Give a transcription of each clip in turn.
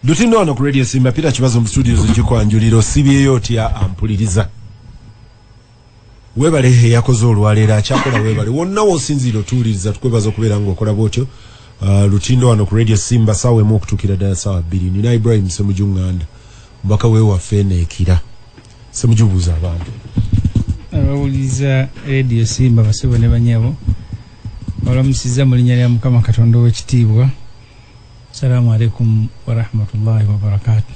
Lutino ono ku Radio Simba Peter Kibazo mu studio zo kikwanjulira osibyeyo otya ampuliriza. Webale he yakoze olwaleero akyakola webale wonna wosinziira otuwuliriza tukwebaza okubeera ng'okola bwotyo. Uh, Lutino wano ku Radio Simba sawa emu okutukira ddala sawa bbiri. Nina Ibrahim Semuju Nganda mbaka wewaffe eno ekira. Semuju buuza abantu. Abawuliriza Radio Simba basebo ne banyabo. Olamusiza mu linnya lya Mukama Katonda ow'ekitiibwa. Salamu alaikum wa rahmatullahi wa barakatuh.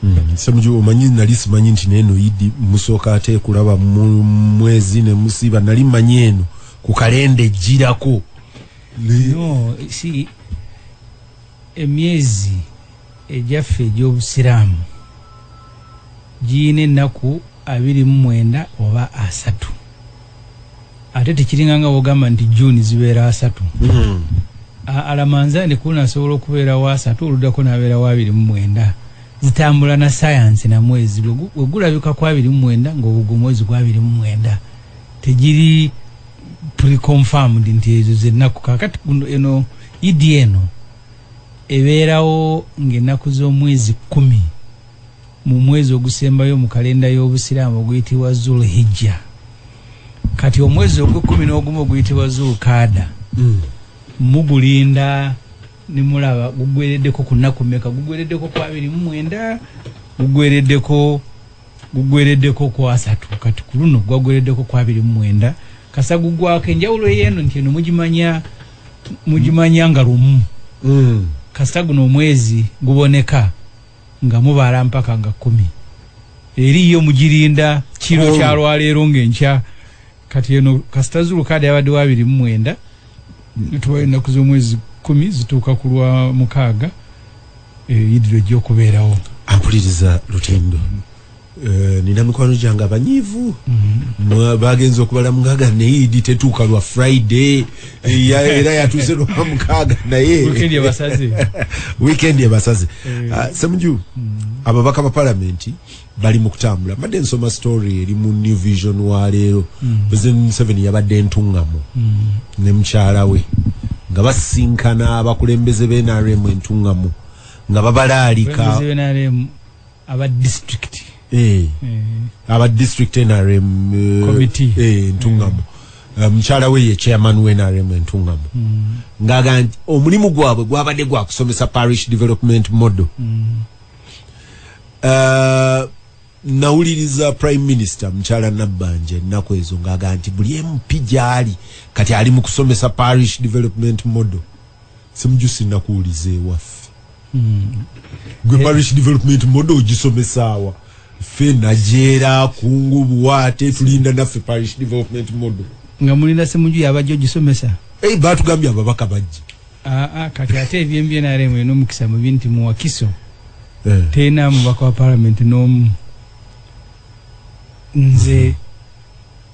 Mm. Semuju omanyi nali simanyi nti neno idi musoka ate kulaba mwezi ne musiba nali manyi eno ku kalende jirako. No, si emyezi ejaffe gy'obusiraamu giyina ennaku abiri mu mwenda oba asatu ate tekiringa nga wogamba nti june zibeera asatu hmm. alamanza ndi kuna asobola okubeera wa asatu oluddako nabeera wa abiri mu mwenda zitambula na sayansi na mwezi wegulabika ku abiri mu mwenda ngaogo mwezi gwa abiri mu mwenda tegiri preconfirmed nti ezo zennaku kakati eno idi eno ebeerawo ngaennaku z'omwezi kumi mu mwezi ogusembayo mu kalenda y'Obusiraamu oguyitibwa Zul Hijja. Kati omwezi ogw'ekkumi n'ogumu oguyitibwa Zul Kaada mm. mugulinda ne mulaba gugwereddeko ku nnaku mmeka? Gugwereddeko ku abiri mu mwenda, gugwereddeko gugwereddeko ku asatu, kati ku luno gwagwereddeko ku abiri mu mwenda. Kasa gugwako enjawulo ey'eno nti eno mugimanya mugimanya nga lumu. Mm. Kasa guno omwezi guboneka. nga mubaala mpaka nga kumi eri yo mugirinda kiro kyalwaleero ngaenkya kati eno kasita zulukaada yabadde wa abiri mumwenda tubayo ennaku z'omwezi kumi zituuka ku lwa mukaaga eh, idiro ejja okubeerawo akuliriza lutendo Eh, nina mikwano gyange abanyiivu mm-hmm. bagenza okubala mukaaga naye idi tetuuka lwa friday eh, era yatuuse lwa mukaaga naye wikendi ebasaze eh. ah, semuju mm-hmm. ababaka ba palamenti bali mu kutambula mbadde nsoma story eri mu new vision wa leero mm-hmm. president museveni yabadde entuŋŋamu ne mukyala we nga basinkana abakulembeze bnrm entuŋŋamu nga babalaalika aba district eh, eh. aba district nrm eh, committee eh, ntungamu eh. eh, mukyala we ye chairman we nrm entungamu mm. ngaga nti omulimu gwabwe gwabadde gwa kusomesa parish development model mm. uh, nawuliriza prime minister mukyala nabbanja ennaku ezo ngaga nti buli mp gyali kati ali mu kusomesa parish development model Semuju sinna kuwuliza ewaffe gwe parish development model ogisomesaawa ffe najeera kungu buwaate tulinda naffe parish development model nga mulinda semuju yabajja ogisomesa eh, batugambye ababaka bajja ah, ah, kati ate ebyembye naremu enomukisa mubi nti muwakiso eh. tena mubaka wa palamenti nomu nze mm -hmm.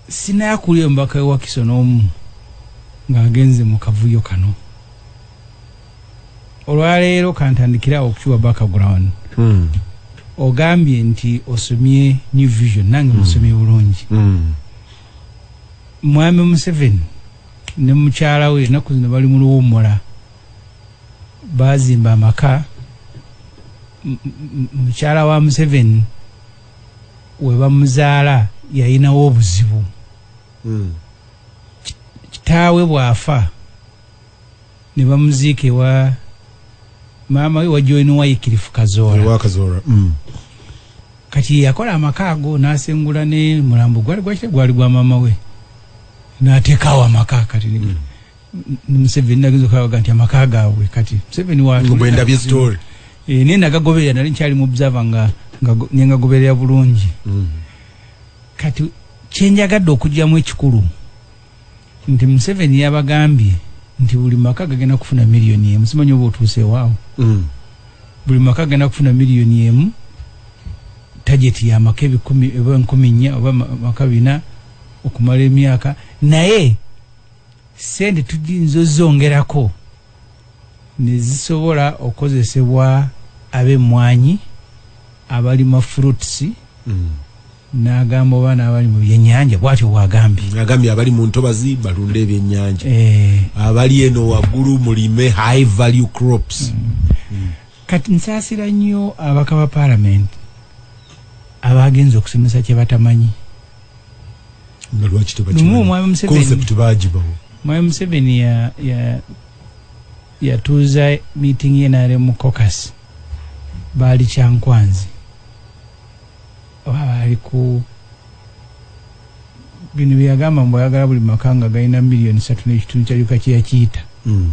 Sinaya kuli omubaka we Wakiso n'omu ng'agenze mu kavuyo kano. Olwaleero kantandikira awo okukiwa background. Mm. Ogambye nti osomye New Vision nange mm. musomye bulungi. Mm. Mwami Museveni ne mukyala we ennaku zino bali mu luwummula. Baazimba amaka mukyala wa Museveni. webamuzaala yalinawo obuzibu hmm. kitaawe bwafa ne bamuziika ewa maama we wajoini waikirifu kazoora hmm. kati yakola amaka ago nasengula ne mulambo gwali gwakire gwali gwa maama we natekawo amaka kati mm. museveni nagenza okulabaga nti amaka gaabwe kati museveni wabwendabye story eh, naye nagagoberera nali nkyali mu observa nga nengagoberera bulungi mm. kati kyenjagadde okugyamu ekikulu nti museveni yabagambye nti buli maka gagenda kufuna miliyoni emu simanyi oba otuusewaawo mm. buli maka gagenda kufuna miliyoni emu tageti yamaka ebikumi oba nkumi nnya oba maka bina okumala emyaka naye sente tuyinza ozongerako nezisobola okukozesebwa ab'emmwanyi abalima fruits mm. n'agamba oba n'abali mu byennyanja bwatyo bwagambye agambye abali mu ntobazi balunda ebyennyanja eh. abali eno waggulu mulime high value crops mm. Mm. kati nsaasira nnyo abaka ba paalamenti abaagenza okusomesa kye batamanyi nga lwaki tebakiconcept bagibawo mwami museveni yatuuza ya, ya meeting ye nare mu cocas baali kyankwanzi oba baali ku bino byeyagamba mbu ayagala buli maka nga galina miliyoni satu n'ekitundu kyalyuka kyeyakiyita mm.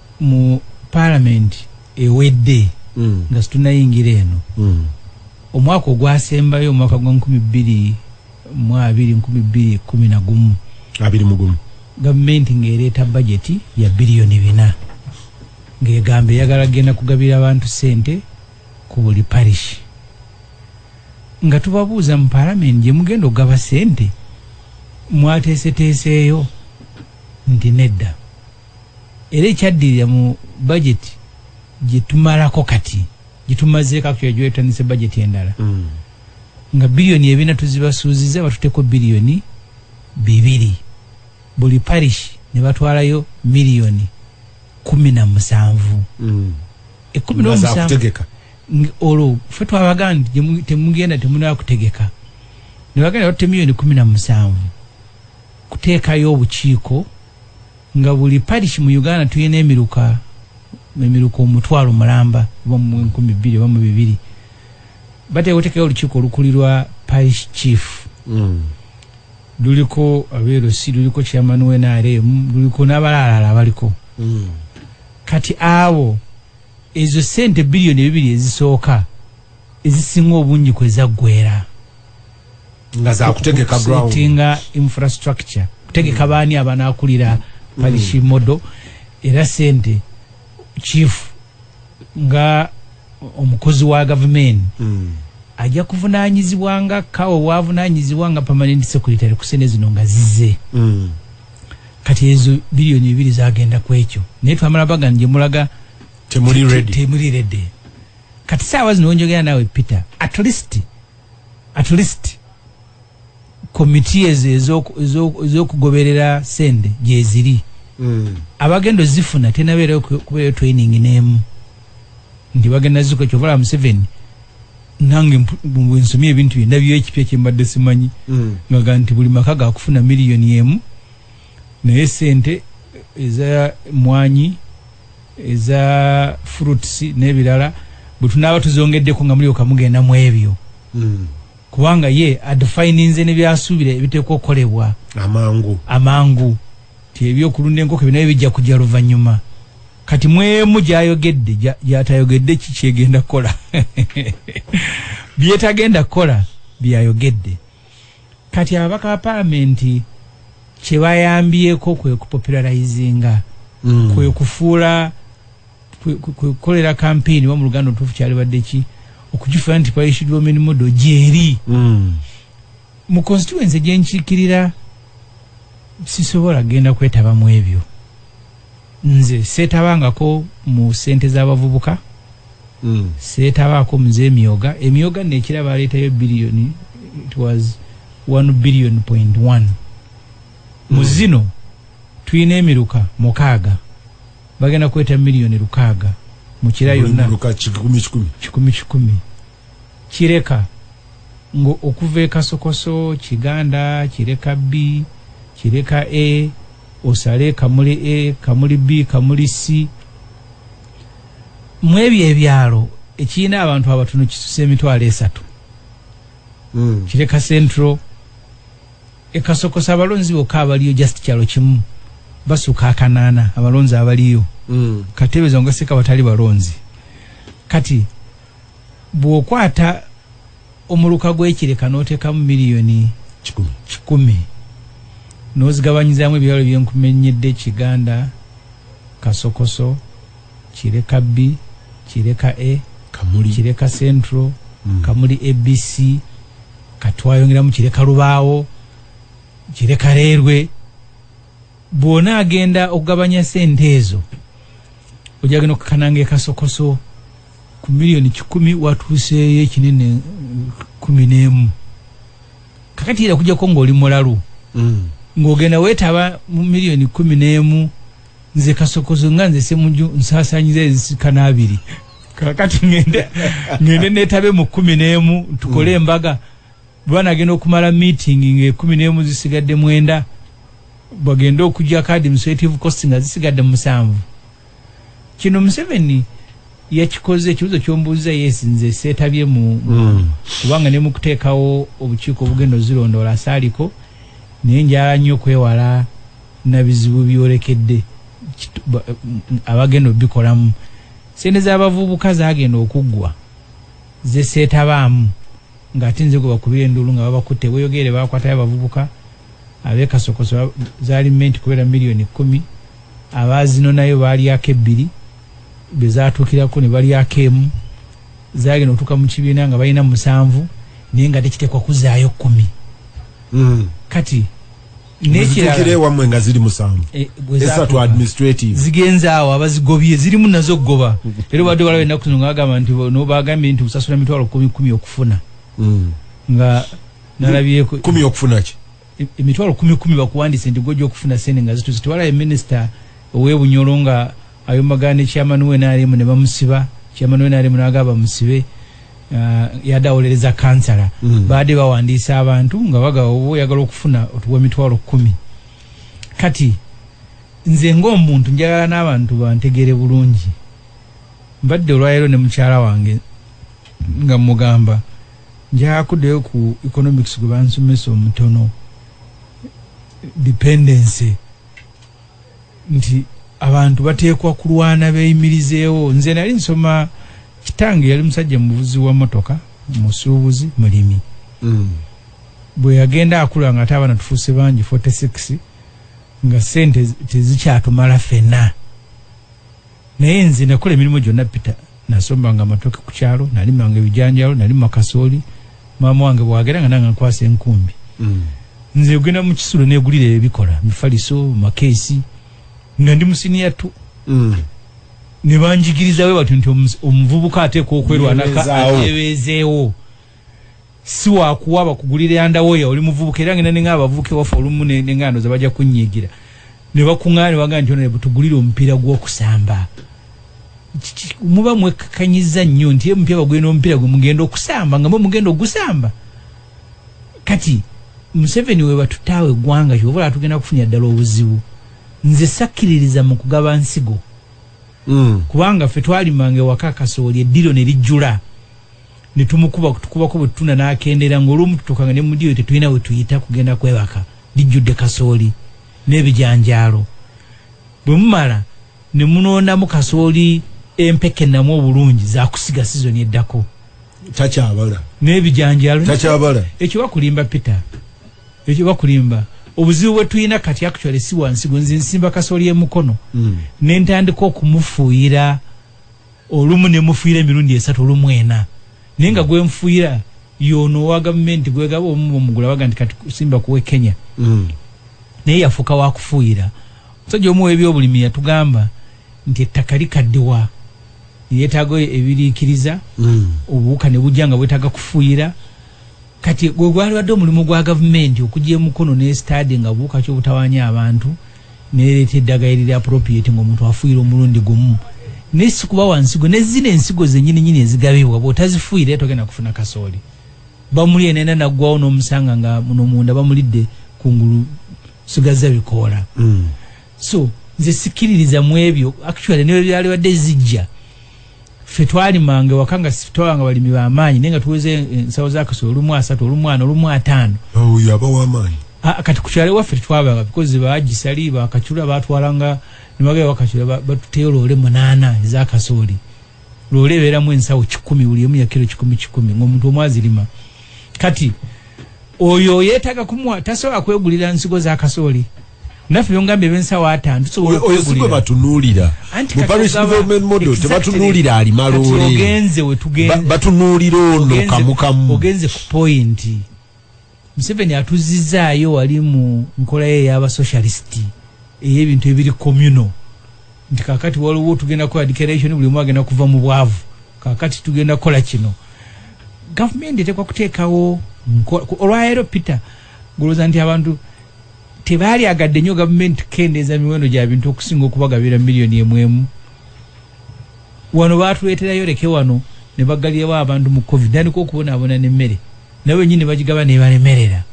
mu parliament ewedde mm. nga situnayingira eno mm. omwaka ogwasembayo omwaka gwa nkumi bbiri mu abiri nkumi bbiri kumi na gumu abiri mu gumu gavumenti ng'ereeta bajeti ya biliyoni bina ng'egamba eyagala kugenda kugabira abantu ssente ku buli parish nga tubabuuza mu palamenti gye mugenda okugaba ssente mwateeseteeseeyo nti nedda era ekyaddirira mu budget gyetumalako kati gyetumazeeko akutya gyetandise budget endala mm. nga biliyoni ebina tuzibasuuziza batuteko biliyoni bibiri buli parish ne batwalayo miliyoni kumi na musanvu mm. ekumi nomusanvu olwo fe twabaga nti temugenda temunaba kutegeka nebagenda batte miliyoni kumi na musanvu kuteekayo obukiiko nga buli parish mu Uganda tulina emiruka emiruka omutwalo mulamba oba mu enkumi bbiri oba mu bibiri bateeka oteekayo olukiiko olukulirwa parish chief mm. luliko abeerosi luliko chairman wa nrm luliko n'abalaalala abaliko mm. kati abo ezo sente biliyoni ebibiri ezisooka ezisinga obungi kwezaggwera nga za kutegeka ground tinga infrastructure kutegeka bani abana akulira parishi mm. modo era sente chief nga omukozi wa government mm. ajja kuvunanyizibwa nga kawo wavunanyizibwa nga permanent secretary kusene zino nga zize mm. kati ezo billion ebiri zagenda kwekyo naye twamala baga nje mulaga temuli ready temuli ready kati sawa zino onjogera nawe peter at least at least komiti ezo ezokugoberera sente gyeziri hmm. abagenda ozifuna tenabeera kubeeyo training nemu nti bagenda ziko kyovala museveni nange nsomye ebintu byendabyo ekipya kyembadde simanyi hmm. ngaga nti buli maka gakufuna miliyoni emu naye sente eza mwanyi eza fruits nebirala bwetunaaba tuzongeddeko nga mulyoka mugenda mu ebyo mm. kubanga ye adefininze nebyasuubira ebiteekwa okukolebwa amangu amangu ti ebyokulunda enkoko ebyo nabyo bijja kujja luvannyuma kati mwemu gyayogedde gyatayogedde ki kyegenda kukola byetagenda kukola byayogedde Kati ababaka ba palamenti kyebayambyeko kwekupopularizinga mm. kwekufuula kwekolera kampeyini wa mu luganda otuufu kyalibadde ki okukifuula nti kwayishiddwa ominimudo gyeri mm. mu constituency gyenkiikirira sisobola kugenda kwetaba mu ebyo nze setabangako mu sente za bavubuka mm. setabako mze emyoga emyoga nekira baleta yo billion it was 1 billion point 1 mm. muzino tuyina emiruka mukaga bagenda kweta million rukaga mukira yonna kikumi kikumi kikumi kikumi Kireka ngo okuva e Kasokoso, Kiganda, Kireka B, Kireka A, osale Kamuli A, Kamuli B, Kamuli C. Mu ebyo ebyalo ekirina abantu abatono kisuse emitwalo esatu. Mm. Kireka Central, e Kasokoso abalonzi bokka abaliyo just kyalo kimu basuka akanaana abalonzi abaliyo. Mm. Katebe zongaseka batali balonzi. Kati. bwokwata omuluka gwekireka notekamu miliyoni kikumi nozigabanyizamu ebyalo byenkumenyedde kiganda kasokoso kireka b kireka a kamuli kireka central mm. kamuli abc katwayongeramu kireka lubaawo kireka reerwe bwona agenda okugabanya sente ezo ojagenda okukananga ekasokoso ku million kikumi watuuseeyo ekinene eh, kumi n'emu kakati era kujjako ng'oli mulalu mm. ng'ogenda weetaba mu million kumi n'emu nze kasokozo nga nze semuju nsaasanyiza ezisikana abiri kakati ngende ngende netabe mu kumi n'emu tukole mm. embaga bwana agenda okumala meeting nga ekumi n'emu zisigadde mwenda bagende okujja ka administrative cost nga zisigadde musanvu kino museveni yakikoze ekibuzo kyombuuza yes nze setabye mu mm. kubanga ne mukuteekawo obukiiko obugenda ozirondoola asaaliko naye njala nnyo okwewala nabizibu byolekedde abagenda obikolamu sente zabavubuka zagenda okuggwa zesetabaamu ngaate nze gwe bakubira enduulu nga babakutte bweyogeere bakwatayo abavubuka abekasokoso zali menti kubera miliyoni kumi abaazinonayo baalyako ebbiri, be zaatuukirako ne balyako emu, zaagenda okutuuka mu kibiina nga balina musanvu naye nga tekiteekwa kuzaayo kkumi hmm. kati nekiraewammwe nga ziri musanvu eh, esatu administrative zigenze awo abazigobye zirimu nazo okugoba era obadde walawo ennaku zino nga bagamba nti nobagambye nti busasula emitwalo kumi kumi okufuna hmm. nga nalabyeko kumi okufuna ki emitwalo e, kumi kumi bakuwandise nti gwoja okufuna sente nga zituze tewalaye minisita owebunyolo nga ayomagana ne chairman we nrm ne bamusiba chairman we nrm naga bamusibe uh, yada olereza kansala mm. baade bawandiisa abantu nga baga oba oyagala okufuna otuwa emitwalo kumi kati nze ngaomuntu njagala n'abantu bantegere bulungi mbadde olwaleero ne mukyala wange nga mugamba Njakudeyo ku economics gwe bansomesa omutono dependency nti abantu bateekwa kulwana beyimirizeewo nze nali nsoma kitange yali musajja muvuzi wa motoka musuubuzi mulimi mm. bwe yagenda akula nga ate abaana tufuuse bangi 46 nga sente tezikyatumala fena naye nze nakola emirimu gyonna pita nasombanga amatoke ku kyalo nalimanga ebijanjalo nalima kasooli maama wange bwagera nga nanga nkwasa enkumbi mm. nze ogenda mu kisulo negulira ebikola mifaliso makeesi nga ndi musiniya tu mm. nebanjigirizawe batyo nti omuvubuka ateeka okwerwanaka atebezeewo si wakuwa bakugulire yandawoya oli muvubuka era ngenda ninga abavubuka ewaffe olumu nengando ze bajja kunyigira ne bakuŋŋaana ne bagamba nti ono butugulire omupiira gw'okusamba muba mwekkakanyiza nnyo nti emupya bagwire n'omupiira gwe mugenda okusamba nga mwe mugenda ogusamba kati museveni we batutaawo eggwanga kyova olaba tugenda kufunira ddala obuzibu nze sakkiririza mu kugaba nsigo mm. kubanga ffe twalimanga ewaka kasooli eddiro ne lijjula ne tumukuba kutukubako bwe tutunda n'akendeera ng'olwomu tutuukanga ne mu diiro tetulina we tuyita kugenda kwebaka lijjudde kasooli n'ebijanjaalo bwe mumala ne munoonamu kasooli empeke namu obulungi zakusiga sizoni eddako takyabala n'ebijanjaalo takyabala ekyo bakulimba peter ekyo bakulimba obuzibu bwe tulina kati actually si wansi gwe nze nsimba kasooli e mukono mm. ne ntandika okumufuuyira olumu ne mufuuyira emirundi esatu olumu ena naye nga gwe nfuuyira y'ono owa gavumenti gwe gaba omu bwomugula baga nti kati simba kuwe kenya mm. naye yafuuka wakufuuyira omusajja omu w'ebyobulimi yatugamba nti ettaka likaddiwa yeetaaga ebiriikiriza mm. obuwuka ne bujja nga bwetaaga kufuuyira Kati gwe gwalibadde omulimu gwa gavumenti okujja emukono ne sitade nga buuka ki obutawanya abantu nereeta eddaga eriri appropriate nga omuntu afuuyira omulundi gumu ne sikubawa nsigo ne zino ensigo zenyini nyini ezigabibwa bwotazifuuyira era togenda kufuna kasooli bamuli enena naggwawo n'omusanga nga muno munda bamulidde kungulu sigazza bikoola mm. so nze sikiririza mu ebyo actually newe byalibadde zijja ffe twalimanga ewaka nga twabanga balimi bamaanyi naye nga tuweza ensawo zakasola olumu asatu olumu ana olumu ataano kati kukyalo ewaffe tetwabanga bikozi bagisali bakacula batwalanga nibagala bakacula batuteyo loole munaana ezakasooli loole ebeeramu ensawo kikumi buli emu yakiro kikumi kikumi ngaomuntu omu azirima kati oyo yetaga kumwa tasobola kwegulira nsigo zakasooli naffe byongambye bensawo atano tusobola oyo si gwe batunuulira mu parish development model tebatunuulira ali malooleogenze wetugenze batunuulira ono kamukamu ogenze ku pointi museveni atuzizzaayo wali mu nkola ye eyaba socialist ey'ebintu ebiri communal nti kakati waliwo tugenda kukola declaration buli omu agenda kuva mu bwavu kakati tugenda kukola kino gavumenti etekwa kuteekawo olwaleero peter gulooza nti abantu tebaali agadde nnyo gavumenti kukendeeza miwendo gya bintu okusinga okubagabira miliyoni emwemu wano baatuleeterayo leke wano ne baggalirawo abantu mu covid tandika okubonaabona n'emmere nawe wenyini bagigaba nebalemerera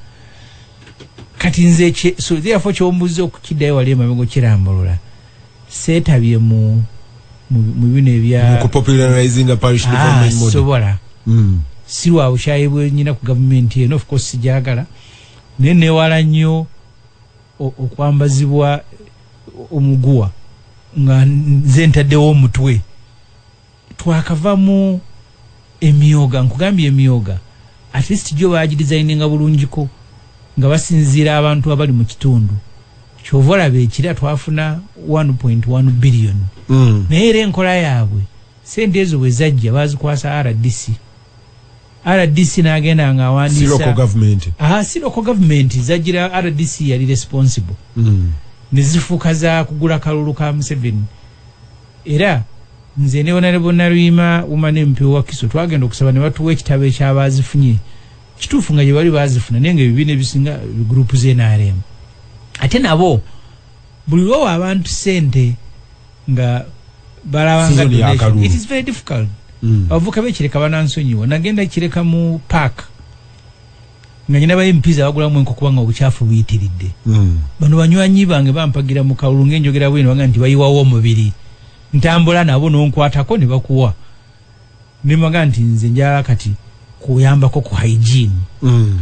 kati nze so therefore kyombuza okukiddayo wali emabega okirambulula seetabye mu mu bino ebyasobola ah, mm. sirwa bukyayibwenyina ku gavumenti eno ofcourse sijagala Naye newala nnyo okwambazibwa omuguwa nga nze ntaddewo omutwe twakavamu emyoga nkugambye emyoga at least gyo bagidizayininga bulungiko nga basinziira abantu abali mu kitundu kyova olaba ekira twafuna 1.1 billion mm. naye era enkola yaabwe sente ezo bwe zajja bazikwasa rdc rdc nagenda nga awandiisasiroko gavumenti zagira rdc yali responsible mm. nezifuuka za kugula kalulu ka museveni era nze ne onalebonaluyima umane mpewo wakiso twagenda okusaba ne batuwa ekitabo ekyabazifunye kituufu nga gyebali bazifuna naye nga ebibiina ebisinga gurupu zenaremu ate nabo buli lwowa abantu sente nga balabanga donation it is very difficult mm. abavuka bekireka banansonyiwa nagenda kireka mu park nga nyina baye mpiza bagula mwenko kubanga obuchafu buyitiridde mm. bano banywanyi bange bampagira mu kawulu ngenjogera bwino banga nti bayiwawo omubiri ntambula nabo nonkwatako ne bakuwa ne maga nti nze njala kati kuyambako ku hygiene mm.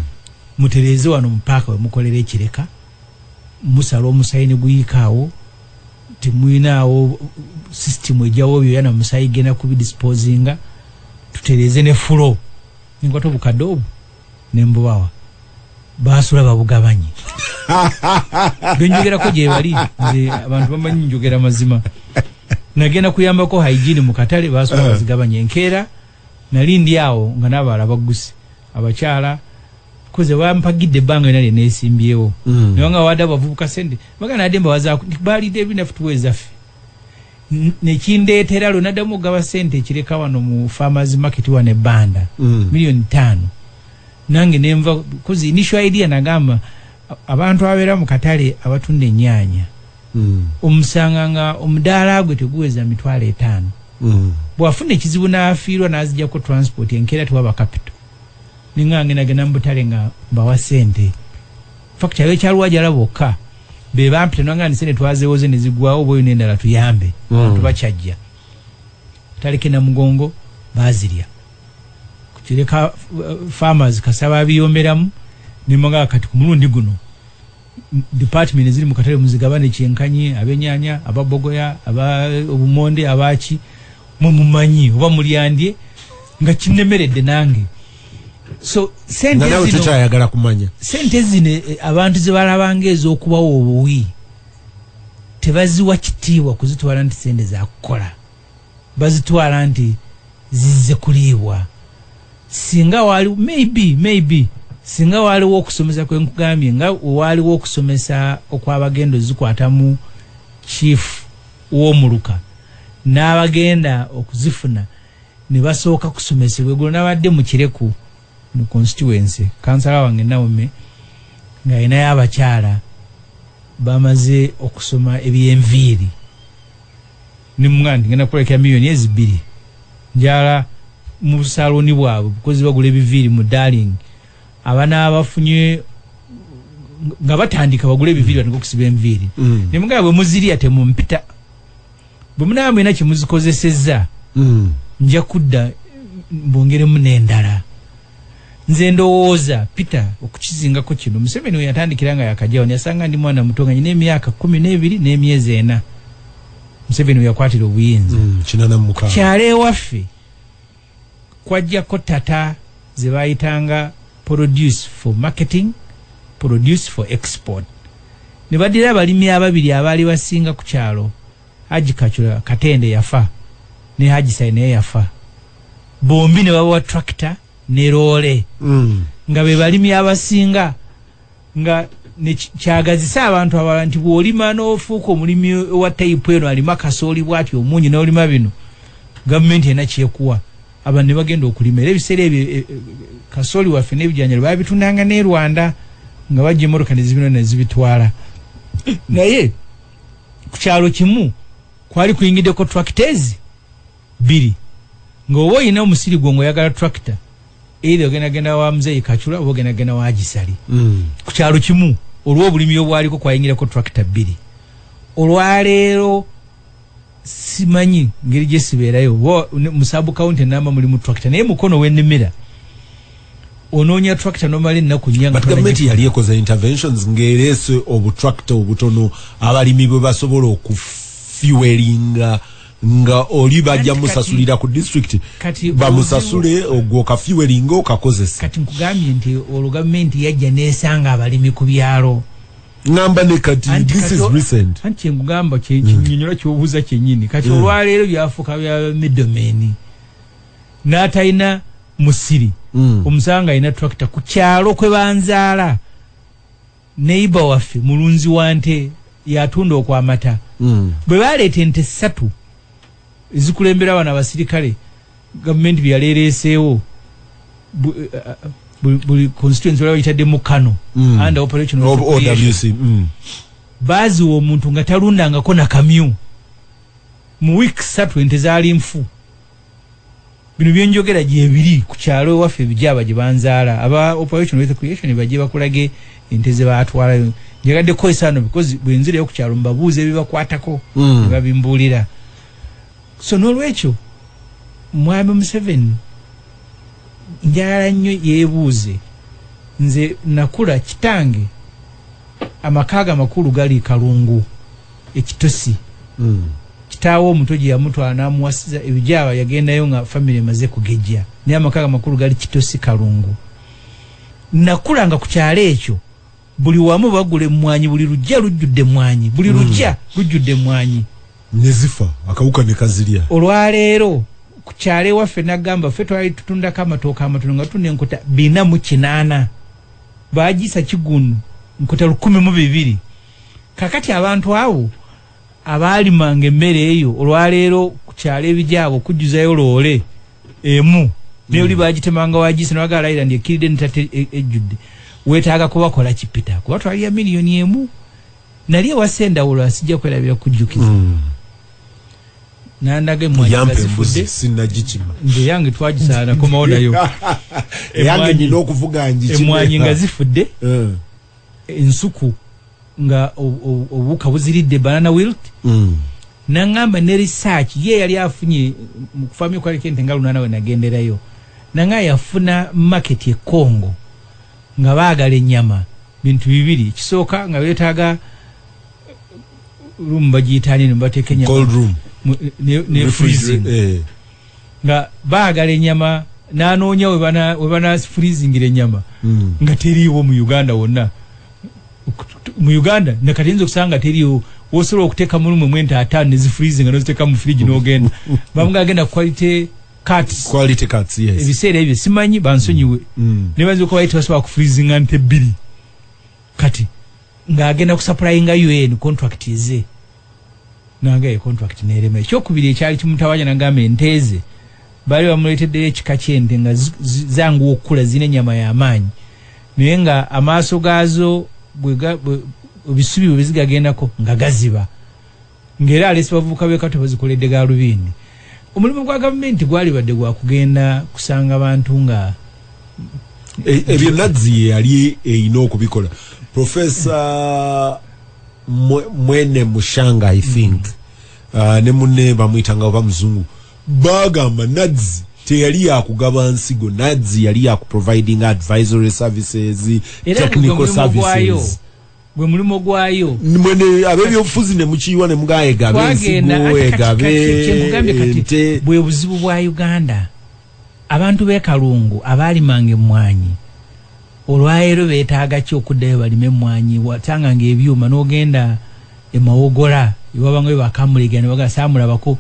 mutereze wano mu park we mukolera ekireka musala omusayini guyikaawo temuyinaawo system ejawo byoya na musayi genda kubidisposinga tutereze ne fulo ninkwata obukadde obwo nembubawa basula babugabanye benjogerako gyebali nze abantu bamanyi njogera mazima nagenda kuyambako hygiene mu katale basula eh. bazigabanye enkeera nali ndi awo nga nabaala baggusi abakyala kuze wampagidde banga yona nenesimbyewo mm. naye nga wada bavubuka sente baga nade mbawaza balide ebina futuweza fe nekindeetera lwe naddamu okugaba sente ekireka wano mu farmers market wa ne banda mm. miliyoni ttaano nange nenva kuzi initial idea nagamba abantu abeera mu katale abatunda ennyanya mm. omusanga nga omudaala gwe teguweza mitwalo etaano mm. bwafuna ekizibu n'afiirwa n'azijako transport enkeera tewaba kapito ninga ngendagenda mubutale nga mbawa sente fakti ayo ekyalwajala bokka be bampita nanga ni sente twazewoze ne zigwawo oba oyina endala tuyambe mm. tubakyajja taleke na mugongo bazirya kukireka uh, farmers kasaba abiyomberamu nemoga kati ku mulundi guno department ziri mu katale muzigabane kyenkanyi abenyanya ababogoya aba obumonde abaki mwe mumanyi oba mulyandye nga kinemeredde nange so sente zino tukyayagala kumanya sente zino eh, abantu ze balabanga ez'okubawo obuwi tebaziwa kitiibwa kuzitwala nti sente zakukola bazitwala nti zizze kuliibwa singa waaliwo maybe maybe singa waaliwo okusomesa kwe nkugambye nga waaliwo okusomesa okw'abagenda ozikwatamu chief w'omuluka n'abagenda okuzifuna ne basooka kusomesebwa eggulo nabadde mu kireku mu constituency kansala wange nawome ng'alinayo abakyala bamaze okusoma eby'enviiri ne muganda ngenda kukolekera miliyoni ezi bbiri njala mu busaloni bwabwe bukozi bagula ebiviiri mu darling abana abafunye nga batandika bagula ebiviiri batandika okusiba enviiri mm. ne muganda bwe muzirya temumpita bwe munaba mulina kyemuzikozesezza mm. nja kudda mbongeremu n'endala nze ndowooza peter okukizingako kino museveni weyatandikira nga yakajawo neyasanga ndi mwana muto nga nyina emyaka kumi nebiri nemyezi ena museveni weyakwatira obuyinza mm, kyalo ewaffe kwajjako tata zebayitanga produce for marketing produce for export nebadira abalimi ababiri abaali basinga ku kyalo Hajji Kacula Katende yafa ne Hajji Sai naye yafa bombi ne babawa tractor ne loole mm. nga be balimi abasinga nga kyagazisa abantu abala nti bwolima n'ofuuka omulimi wa tayipu eno alima kasooli bwati omungi n'olima bino gavumenti ena kyekuwa abantu ne bagenda okulima era ebiseera ebyo e, e, kasooli waffe n'ebijanjalo babitundanga n'e rwanda nga bajja emmotoka ne zibino ne zibitwala naye ku kyalo kimu kwali kuyingiddeko tractors bbiri ng'oba olina omusiri gwo ng'oyagala tractor eitha ogenda genda wa muzeeyi kacula oba ogenda genda wa gisali hmm. ku kyalo kimu olw'obulimi obwaliko kwayingirako tractor bbiri olwaleero simanyi ngeri gyesibeerayo mu sub county namba mulimu tractor naye mukono wenimira onoonya tractor nomala ennaku nnyabut gavumenti yali ekoze interventions ng'ereese obutractor obutono abalimi bwe basobola okufuelinga nga oli bajja musasulira ku district bamusasule ogwo okafuelinga okakozesa kati nkugambye nti olwo gavumenti yajja neesanga abalimi ku byalo ngamba ne kati this is recent anti kye ngamba kye hmm. kinyonyola mm. kyobuuza kyenyini kati mm. olwaleero byafuuka bya midomeni n'atalina musiri mm. omusanga alina tractor ku kyalo kwe banzaala neiba waffe mulunzi wa nte yatunda okwamata mm. bwe baleeta ente ssatu ezikulembera abana abasirikale Gavumenti byeyali ereeseewo buli constituency olaba yitadde mu kano mm. and operation of OWC mm. bazi wo muntu nga talunda nga kona kamyu mu week satu ente zali mfu bino byenjogera gye biri ku kyalo waffe bijaba gye banzaala aba operation with creation baje bakulage ente ze batwala njagadde ko esano because bwenzire yo ku kyalo mbabuuze bibakwatako mm. babimbulira so nolwekyo mwami museven njagala nnyo yebuuze nze nakula kitange amakaaga amakulu gali kalungu ekitosi mm. kitaawo omuto gye yamutwala n'amuwasiza ebijaaba yagendayo nga famiry emaze kugejja naye amakaaga amakulu gali kitosi kalungu nakulanga ku kyalo ekyo buli wamu bagula emmwanyi buli lujja lujjudde emmwanyi buli hmm. lujja lujjudde emmwanyi ne zifa akawuka ne kazirya olwaleero ku kyalo ewaffe nagamba ffe twali tutundako amatooka amatono nga tunda enkuta bina mu kinaana bagiisa kigunu nkuta lukumi mu bibiri kakati abantu awo abaalimanga emmere eyo olwaleero ku kyalo ebijaabo okujjuzayo loole emu naye oli bagitemanga wagise nawaga alayira ndi ekkiridde ntate e, ejjudde weetaaga kubakola kipita kuba twalira miliyoni emu nali ewasa endawulo asijja kwerabira kujjukiza hmm. nandaga emwanyigazifudde nze yange twagisaana komawo nayo emwanyi nga zifudde eh. ensuku nga obuwuka buziridde banana wilt mm. nangamba ne research ye yali afunye mukufamya okwalika ente nga lunana wenagenderayo nanga yafuna market e congo nga baagala ennyama bintu bibiri ekisooka nga beetaaga room bagiyitaani no bateeka enyama ne freezing eh. nga baagala ennyama n'anoonya we banafreezingira ennyama hmm. nga teriiwo mu uganda wonna mu Uganda na kati nzo kusanga teriyo wosolo okuteka mu lumu mwenta atano ne freezing no ziteka mu fridge no genda bamuga agenda quality cuts quality cuts yes ebisere ebyo simanyi bansonyiwe mm. mm. ne banzo ko bayita basoba ku freezing ante bili kati nga agenda ku supplying UN contract ize nange eyo contract nerema ekyokubiri ekyali kimutawaanya nagamba ente ze baali bamuleeteddeyo ekika ky'ente nga zanguwa okukula zirina ennyama y'amaanyi naye nga amaaso gaazo ebisubi bwe bizigagendako nga gaziba ng'era aleese bavubuka b'ekato bazikoledde gaalubindi omulimu gwa gavumenti gwalibadde gwa kugenda kusanga bantu nga e, ebyo nazzi ye yali erina okubikola profesa mwene mushanga i think mm. uh, ne mune bamuyitanga oba muzungu bagamba nads teyali yakugaba nsigo nads yali yakuproviding advisory services technical services gwe mulimu gwayo mwene abebyobufuzi ne mukiyiwa ne mugaegabe ensigo egabe bwe buzibu bwa uganda Abantu b'e Kalungu abaalimanga emmwanyi olwaleero beetaaga ki okuddayo balime emmwanyi? Wasanganga ebyuma n'ogenda e Mawogola ne wabangayo bakamulegeera ne bagamba saamulabako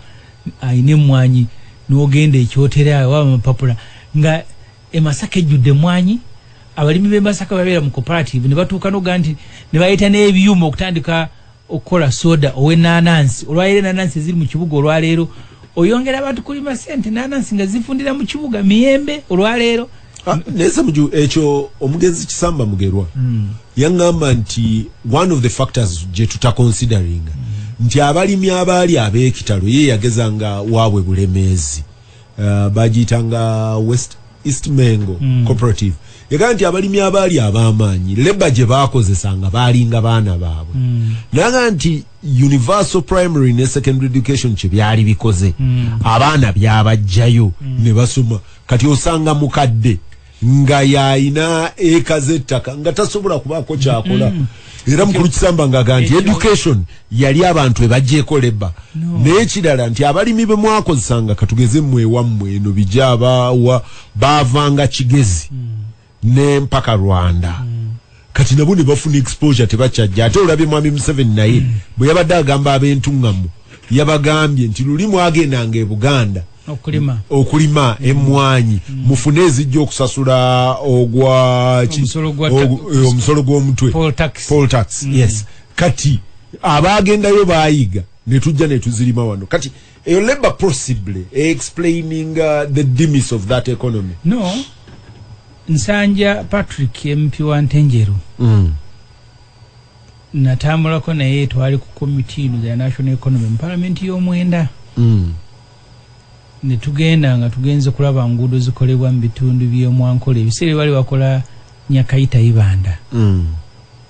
alina emmwanyi, n'ogenda e Kyotera ewaba amapapula nga e Masaka ejjudde emmwanyi. Abalimi b'e Masaka bwe babeera mu Cooperative ne batuuka n'okugamba nti ne baleeta n'ebyuma okutandika okukola soda owenanansi olwaleero enanansi eziri mu kibuga olwaleero oyongera abantu kulima sente enanansi nga zifundira mu kibuga miyembe olwaleero ah, naye samuju ekyo omugenzi kisamba mugerwa hmm. yaŋŋamba nti one of the factors gye tutakonsideringa hmm. nti abalimi abaali ab'ekitalo ye yageza nga waabwe bulemeezi uh, bagiyita nga west east mengo mm. cooperative yagamba nti abalimi abaali ab'amaanyi leba gye baakozesa nga baalinga baana baabwe mm. naga nti universal primary ne secondary education kye byali bikoze mm. abaana byabajjayo mm. ne basoma kati osanga mukadde nga yalina eka z'ettaka nga tasobola kubaako kyakola mm. era mukulu kisamba ngaaga nti education yali abantu ebagyeko leba n'ekirala nti abalimi be mwakozesanga katugeze mmwe ewammwe eno bijaabawa baavanga kigezi mm. n'empaka rwanda mm. kati nabo ne bafuna exposure tebakyajja ate olabye mwami museveni naye mm. bwe yabadde agamba ab'entuŋŋamu yabagambye nti luli mwagendanga e buganda okulima okulima mm. emmwanyi mm. mufune ezijja okusasula ogwa eh, omusolo gw'omutwe poll tax mm. yes kati abaagendayo baayiga ne tujja ne tuzirima wano kati eyo labor possibly e explaining uh, the demise of that economy no nsanja patrick mp wa ntenjeru mm. natambulako naye twali ku komiti ino the national economy mu palamenti y'omwenda mm. ne tugenda nga tugenze kulaba nguudo zikolebwa mu bitundu by'omwankola ebiseera ebali bakola nyakayita ibanda mm.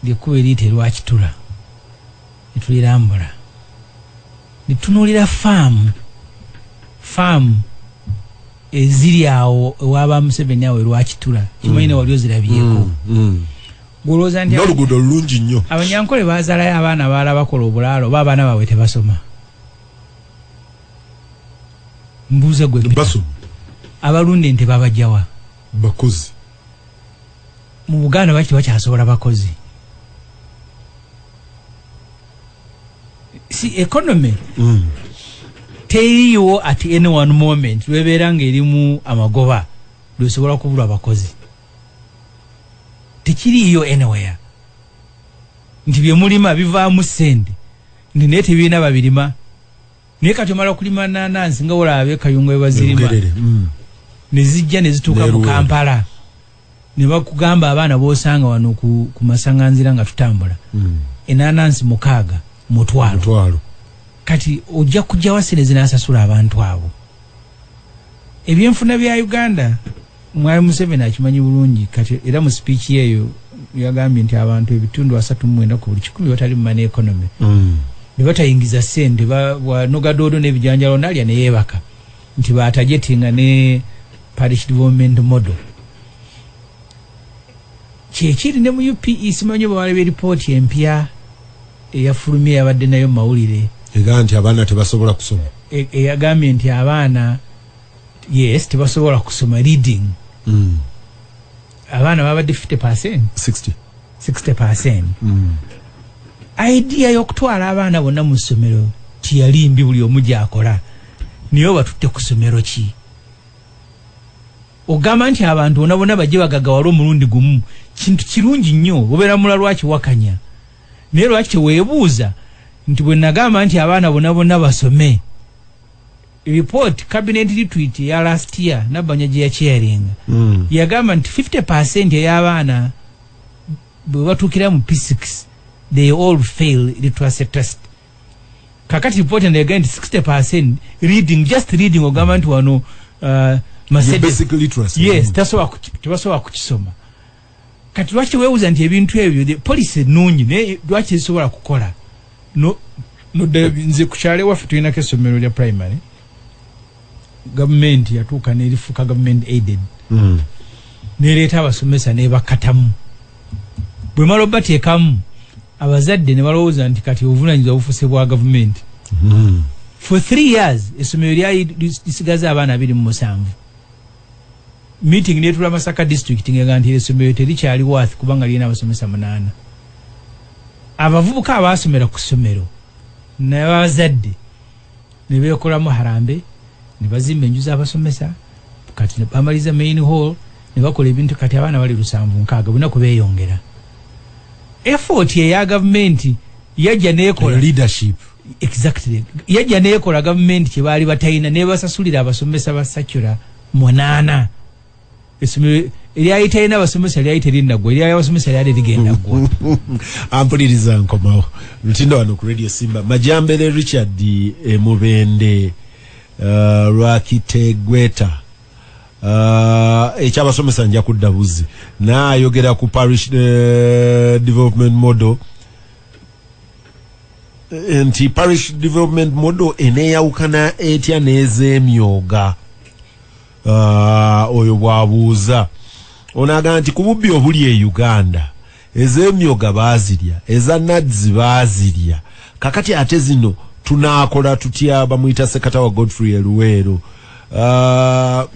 lyekkuba eriyita erwakitula ne tulirambula ne tutunuulira faamu faamu eziri awo ewaba museveni awo erwakitura kimanyi ne wali ozirabyeko mm, mm. gwolowooza nti noluguudo lulungi nnyo abanyankole bazaalayo abaana baala bakola obulaalo oba abaana baabwe tebasoma mbuuza gwe abalunda ente babajawa bakozi mu buganda lwaki tebakyasobola bakozi si economy mm. teriiwo at any one moment lwebeera ngaerimu amagoba lwesobola kubulwa abakozi tekiriiyo anywhere nti byemulima bivaamu sente nti naye tebirina babirima naye kati omala okulima nanansi nga olaba bekayungo webazirima mm. nezijja nezituuka mu kampala nebakugamba abaana bosanga wano ku, ku masanganzira nga tutambula mm. enanansi mukaaga mutwalo kati ojja kujja wasire zinasasula abantu abo ebyenfuna bya uganda mwali museveni akimanyi bulungi kati era mu speech yeyo yagambye nti abantu ebitundu asatu mwenda ku buli kikumi batali mu mane economy mm. nebatayingiza sente nogadodo nebijanjalo nalya neyebaka nti batajetinga ne parish development model kyekiri ne mu upe simanyi bawalaba eripooti empya eyafulumye yabadde nayo mumawulire ega nti abaana tebasobola kusoma e, eyagambye nti abaana yes tebasobola kusoma reading mm. abaana babadde 50 percent 60 60 percent mm. idea y'okutwala abaana bonna mu ssomero tiyali mbi buli omu gyakola naye obatutte ku ssomero ki ogamba nti abantu bona bona bajje bagagawala omulundi gumu kintu kirungi nnyo obeera mula lwaki wakanya naye lwaki teweebuuza nti bwe nagamba nti abaana bona bona basome report cabinet retreat ya last year nabanja gye yacharinga mm. yagamba nti 50 percent ey'abaana bwe batuukira mu p6 they all fail literacy test kakati report eno yagamba nti 60 percent reading just reading ogamba nti wano uh, Mercedes, yes, mm. tebasobola kukisoma kati lwaki wewuza nti ebintu ebyo the policy nungi naye lwaki ezisobola kukola no noddayo nze kukyalo ewaffe tulinako essomero lya primary gavumenti yatuuka nerifuka gavumenti aided mm. nereeta abasomesa nebakatamu bwemala obateekamu abazadde nebalowooza nti kati obuvunanyizibwa bufuse bwa gavumenti mm. for three years essomero lyali lisigaza abaana abiri mu musanvu meeting netula masaka district nga nti esomero terikyali worth kubanga lirina abasomesa munaana abavubuka abaasomera ku ssomero nabazadde nebekolamu harambe nebazimba enju zabasomesa kati bamaliza main hall nebakola ebintu kati abaana bali lusanvu nkaaga bona kubeyongera effort eya gavumenti yajja nekola leadership exactly yajja nekola government kye baali batayina ne basasulira abasomesa ba secular munana esomero eryali talina abasomesa lyali terinaggwa eryali abasomesa lyali ligenda ggwa ampuliriza nkomawo lutinda wano ku radio simba majambere richard emubende eh, uh, eh, lwakitegweta uh, eh, ekyabasomesa nja kudda buzzi naayogera ku parish uh, development model nti parish development model eneyawukana etya n'ezemyoga ah, oyo bwabuuza onaga nti kububbi obuli e uganda ezemyoga bazirya eza nads bazirya kakati ate zino tunakola tutya bamuyita sekatawa godfrey eluweero uh, ah,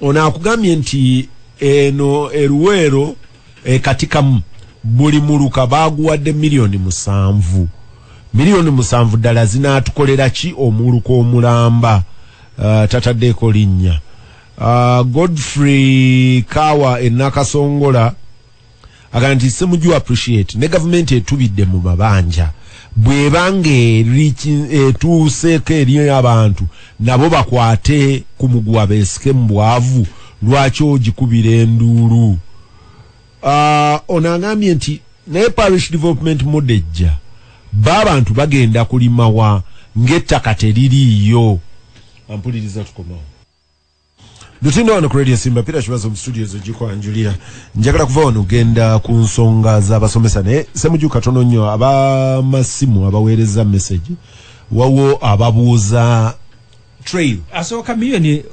ono akugambye nti eno eruweero ekatikamu buli muluka baguwadde miliyoni musanvu miliyoni musanvu ddala zinaatukolera ki omuluka omulamba uh, tataddeeko linnya uh, godfrey kawa enakasongola agamba nti semuju appreciate ne gavumenti etubidde mu mabanja bwebanga etuuseeko eri abantu nabo bakwate ku muguwa beesike mu bwavu lwaki ogikubira enduulu ah, ono agambye nti naye parish development modejja ba abantu bagenda kulimawa ng'ettaka teririiyo ampuliriza tukomawo Lutino wano ku Radio Simba Pira Shibazo mu studio zo jiko anjulira. Njagala kuva wano genda ku nsonga za basomesa ne semuju katono nnyo aba masimu abaweereza message. Wawo ababuuza trail. Asooka milioni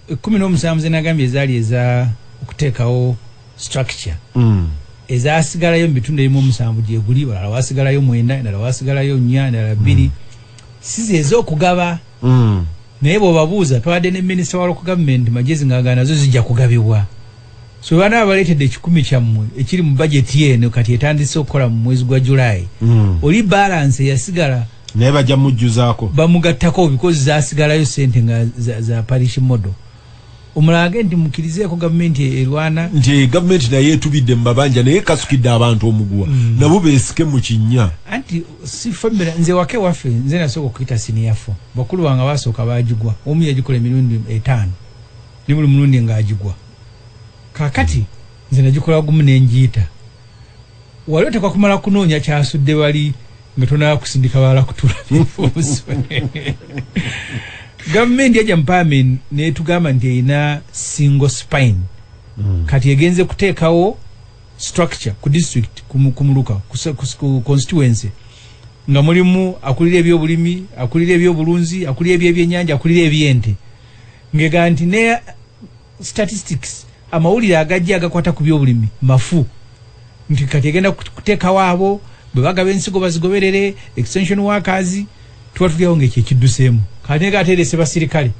17 uh, zenagambye ezali eza okuteekawo structure. Mm. Ezasigalayo mu bitundu ebimu omusanvu gyeguli balala wasigalayo mwenda endala wasigalayo nnya endala bbiri. Mm. Size ez'okugaba mm. naye bwobabuuza twabadde ne minisita wa local government magezi ngaaga nazo zijja kugabibwa so baana abaleetedde ekikumi kyammwe ekiri mu bajeti eno kati etandise okukola mu mwezi gwa julayi mm. oli balanse yasigala naye bajja mujjuzaako bamugattako bikozi zasigalayo sente nga za, za parish model omulage nti mukirizeeko gavumenti e-, erwana nti gavumenti naye etubidde mu mabanja naye kasukidde abantu omuguwa mm. nabo beesike mu kinnya anti si famira nze wake waffe nze nasooka okuyita siniyafo bakulu wange basooka bagigwa omu yagikola emirundi etaano ne buli mulundi ng'agigwa kakati nze nagikola gumu ne ngiyita Wali otekwa kumala kunoonya kyasudde bali nga tonaba kusindika balala kutula bifuuso gavumenti yajja mupaamenti netugamba nti erina single spine mm. kati egenze kuteekawo structure ku district kumuluka ku constituency nga mulimu akulira ebyobulimi akulira ebyobulunzi akulira ebyebyenyanja akulira ebyente ngega nti ne statistics amawulire agajja agakwata ku byobulimi mafu nti kati egenda kuteekawo abo bwe bagaba ensigo bazigoberere extension workers tuba tulyawo ngaekyo ekidduseemu kati nega aterese basirikale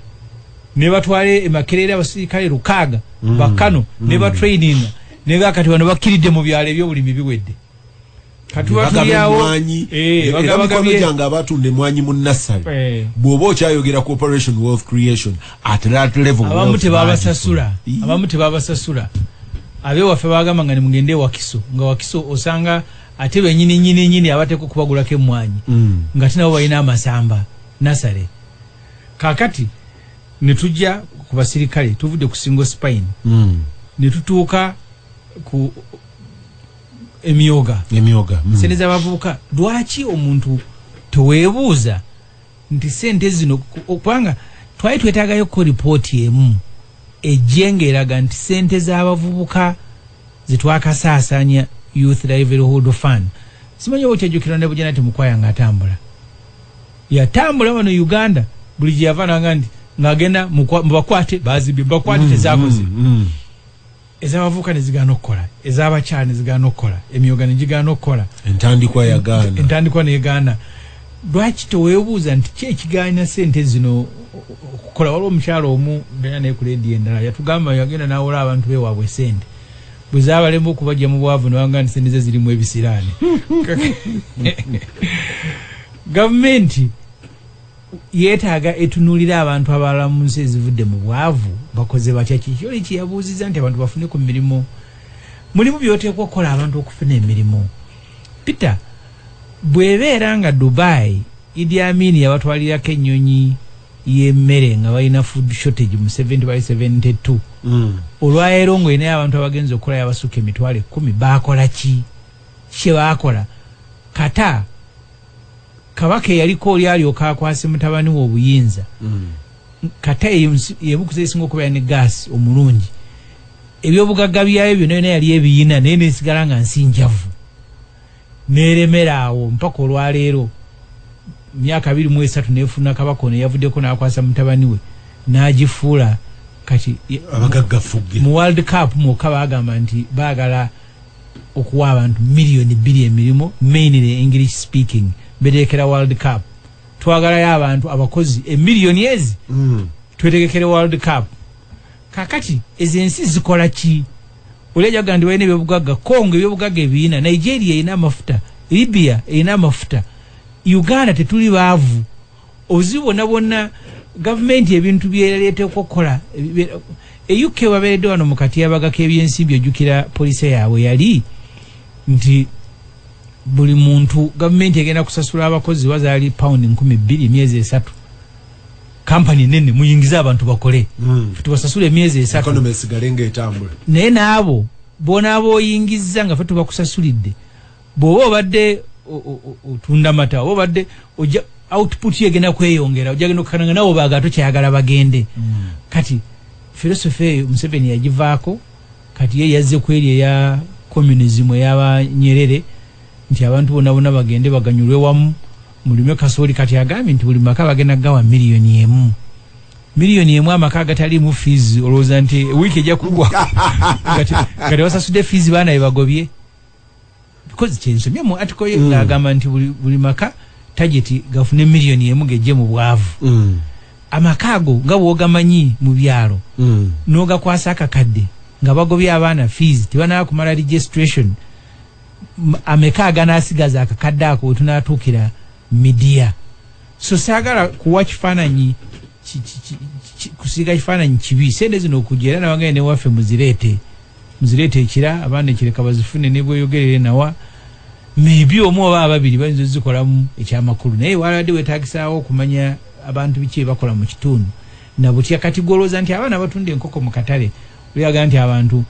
ne batwala emakerere abasirikale lukaaga mm. bakano mm. ne batraininga nega kati bano bakkiridde mu byalo ebyobulimi biwedde abatunda emwanyi mu nasale eh. bwoba okyayogera cooperation wealth creation at that level abamu tebabasasula abamu tebabasasula abe waffe bagamba nga nemugende wakiso nga wakiso osanga ate benyini nyini nyini abateko kubagulako emwanyi mm. nga tinabo balina amasamba nasale kakati netujja ku basirikale tuvudde ku single spine mm. netutuuka ku emyoga emyoga mm. sente zabavubuka lwaki omuntu tewebuuza nti sente zino okubanga twali twetagayo ko ripooti emu ejjenga eraga nti sente zabavubuka zetwakasaasanya youth livelihood fund simanyi okyajukira ne bujana temukwaya nga atambula yatambula wano uganda buli gyeyava nanga nti ngagenda mubakwate bazibye bakwate mm, tezakoze mm, mm. ez'abavubuka ne zigaana okukola ez'abakyala ne zigaana okukola emyoga ne gigaana okukola entandikwa yagaana entandikwa negaana lwaki tewebuuza nti ki ekigaanya sente zino okukola waliwo omukyala omu bena naye ku leediyo endala yatugamba yagenda nawola abantu bewaabwe sente bwe zabalemba okubajja mu bwavu nebanga nti sente ze zirimu ebisiraani gavumenti yetaaga etunulira abantu abalala mu nsi ezivudde mu bwavu bakoze batya kiki oli kyeyabuuziza nti abantu bafune ku mirimu mulimu byoteekwa okukola abantu okufuna emirimu peter bwebeera nga dubai idi amini yabatwalirako ennyonyi yemmere nga balina food shortage mu 70 bali 72 mm. olwaero nga olinayo abantu abagenza okukola yabasukka emitwalo ekumi bakola ki kyebakola kata kabaka eyaliko oli alyoka akwase mutabani we obuyinza mm. kata yebukuza esinga okubeera ne gaasi omulungi ebyobugagga byayo byona yona yali ebiyina naye nesigala nga nsi njavu neremera awo mpaka olwaleero myaka biri mu esatu nefuna kabaka ono yavuddeko nakwasa mutabani we nagifuula kati mu world cup mwokka bagamba nti bagala okuwa abantu million bbiri emirimu mainly english speaking betegekera world cup twagalayo abantu abakozi emillion ezi mm. twetegekere world cup kakati ezo ensi zikola ki olejaga ndi walina ebyobugagga congo ebyobugagga ebiina nigeria erina amafuta libya erina amafuta uganda tetuli baavu obuzibu bwonna bwonna gavumenti ebintu byeyaleeteko okukola euk babeeredde wano mu katyabaga k'ebyensimbi ojjukira poliisi yaabwe yali nti buli muntu gavumenti egenda kusasula abakozi bazaali pawundi nkumi bbiri emyezi esatu kampani nene muyingize abantu bakole mm. tubasasula emyezi esatu naye naabo bonaaba oyingizza nga fe tubakusasulidde bwoba obadde otunda mata oba obadde oja output yegenda kweyongera ojagenda okukana nga nawe obaaga tokyayagala bagende mm. kati filosofi eyo museveni yagivaako kati ye yazze kweri eya communism eyabanyerere nti abantu bona bona bagende baganyulwe wamu mulime kasooli kati agambye nti buli maka bagenda gawa miliyoni emu miliyoni emu amaka agataliimu fiizi olowooza nti wiiki ejja kugwa kati wasasude fiizi baana bebagobye because kyensomye mu article ye mm. ng'agamba nti buli, buli maka tageti gafune miliyoni emu gejje mu bwavu mm. amaka ago nga bwogamanyi mu byalo mm. n'ogakwasa akakadde nga bagobye abaana fees tebanaba kumala registration ameka aganasigaza akakadde ako wetunatuukira midiya so saagala kuwa kifaananyi kusiiga kifaananyi kibi sente zino okujja era nabagaye newaffe muzireete muzireete ekira abaana ekireka bazifune nebweyogerere nawa maybe omu oba ababiri bayinza ozikolamu ekyamakulu naye walabadde wetagisaawo okumanya abantu biki ebakola mu kitundu nabutya kati gwolowooza nti abaana batunda enkoko mu katale oyaga nti abantu